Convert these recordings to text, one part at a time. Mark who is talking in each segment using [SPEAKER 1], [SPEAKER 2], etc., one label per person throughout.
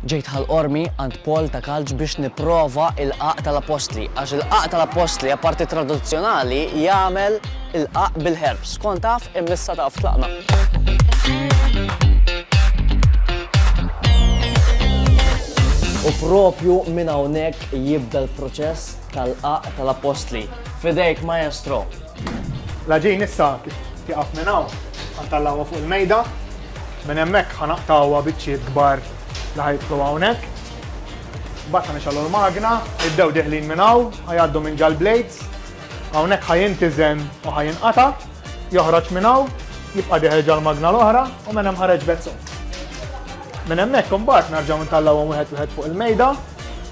[SPEAKER 1] Ġejt ħal-qormi għand Paul ta' Kalġ biex nipprova il-qagħaq tal-appostli, għax il-qagħaq tal-appostli, apparti tradizzjonali, jagħmel il-qagħaq bil-herbs. Kont taf, imma issa taf tlaqna. U propju minn hawnhekk jibda l-proċess tal-qagħaq tal-appostli. F'idejk, Maestro! L-għaġin
[SPEAKER 2] issa tieqaf minn hawn, ħantallawha fuq il-mejda, minn hemmhekk ħanaqtgħuha biċċiet kbar li ħajidħlu hawnhekk. Mbagħad ħanixgħalu l-magna, id-dew deħlin minn hawn, ħajgħaddu minn ġall-blades, hawnhekk ħajintiżen u ħajinqata', joħroġ minn hawn, jibqa' deħel ġall-magna l-oħra u minn hemm ħareġ vet sod. Minn hemmhekk imbagħad nerġgħu ntallawhom wieħed wieħed fuq il-mejda,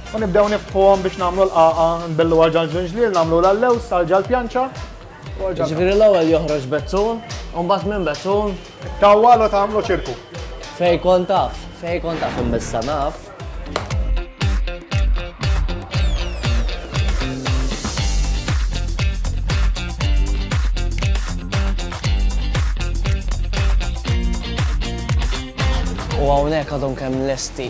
[SPEAKER 2] U nibdew nifħuhom biex nagħmlu l-qaqa, nbellu għal ġal ġinġliel, nagħmlu l-allews għal ġal pjanċa. Ġifieri
[SPEAKER 1] l-ewwel joħroġ bezzun, u mbagħad minn bezzun. Tawwalu
[SPEAKER 2] tagħmlu ċirku. Fej kont
[SPEAKER 1] taf, fej kont taf imbissa naf. U hawnhekk għadhom kemm lesti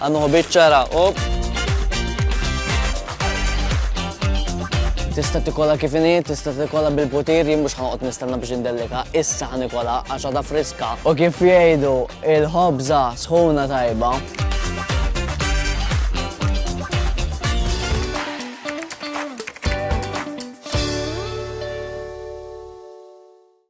[SPEAKER 1] Għannuħu biċċara, op. Tista tikola kif inhi, tista tikola bil-putir, jien mhux ħanqod nistenna biex indellika, issa ħanikola għax għadha friska. U kif jgħidu il-ħobża sħuna tajba.